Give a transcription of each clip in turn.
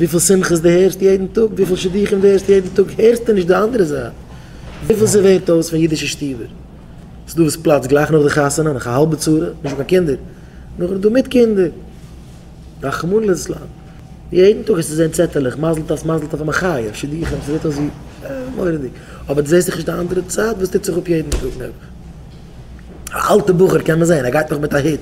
וויפיל שמחות דו הערסט יעדן טאג, וויפיל שידוכים דו הערסט יעדן טאג, הערסטו נישט די אנדערע זייט, וויפיל ס'ווערט אויס פון אידישע שטיבער, ס'איז דא וואס פלאצט גלייך נאך די חתונה, נאך א האלבע צרה, נישט קיין קינדער, נאכדעם איז דא מיט קינדער, רחמנא ליצלן, יעדן טאג העסטו זען צעטעלעך, מזל טוב, מזל טוב א מחיה, שידוכים, ס'זעט אויס ווי, מורא'דיג, אבער דו זעסט דאך נישט די אנדערע צד וואס טוט זיך אפ יעדן טאג נעבעך, א אלטע בחור קען מען זען, ער גייט נאך מיט א היט.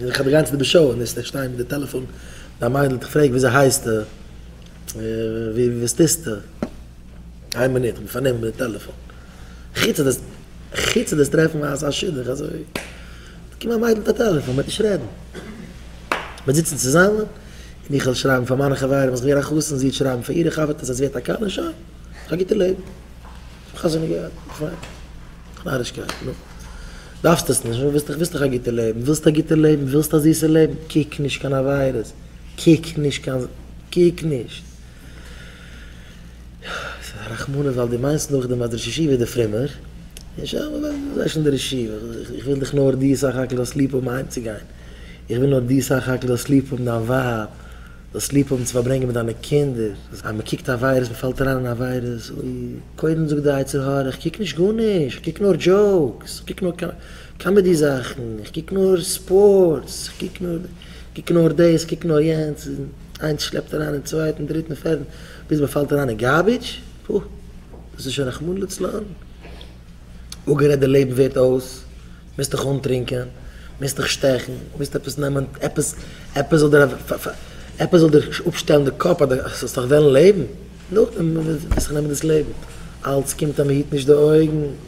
און איך האב די גאנצעטע באשערעניש איך שטיי מיט די טעלעפאן ביי א מיידל איך פרעג וויאזוי הייסטו וואס טוסטו איין מינוט איך בין פארנומען מיט די טעלעפאן חוץ דאס חוץ דאס טרעפן אזא שידוך אזוי קומט א מיידל מיט א טעלעפאן מ'וועט נישט רעדן מ'וועט זיצן צוזאמען און איך וועל שרייבן פאר מיינע חברים אז איך בין געווען א חתן זי וועט שרייבן פאר אירע חבר'טעס אז זי האט א כלה שוין האב א גוטע לעבן. חזון איז גערעכט, פיין. נארישקייט, נו. דארפסט עס נישט, ווילסט ווילסט דאך א גוטע לעבן, ווילסט א גוטע לעבן, ווילסט א זיסע לעבן, קוק נישט קיין עבירות, קוק נישט קיין, קוק נישט. עס איז א רחמנות ווייל דו מיינסט נאכדעם אז דער ראש ישיבה איז דער פרומער. זיי שוין דער ראש ישיבה, איך וויל דיך נאר דו סך הכל זאלסט ליב האבן אהיימצוגיין, איך וויל נאר דו סך הכל זאלסט ליב האבן דיין ווייב, זאלסט ליב האבן צו פארברענגען מיט דיינע קינדער, אז מען קוקט א וויירוס, מען פאלט אריין אין א וויירוס, אוי, קודם זאגט די יצר הרע, איך קוק נישט גארנישט, איך קוק נאר דזשאוקס, איך קוק נאר קאמעדי זאכן, איך קוק נאר ספארטס, איך קוק נאר, איך קוק נאר דאס, איך קוק נאר יענץ, און איינס שלעפט אריין אין צווייטן, דריטן, פערטן, ביז מען פאלט אריין אין גארבידזש, פו, דאס איז שוין רחמנא לצלן, אפגערעדט די לעבן ווערט אויס. מוזט דיך אנטרינקען, מוזט דיך שטעכן, מוזט עפעס נעמען, עפעס, עפעס זאל דיר, עפעס זאל דיר אפשטעלן די קאפ אז דו זאלסט נאך וועלן לעבן, נאכדעם וועסטו נעמען דאס לעבן, אלץ קומט אז מען היט נישט די אויגן.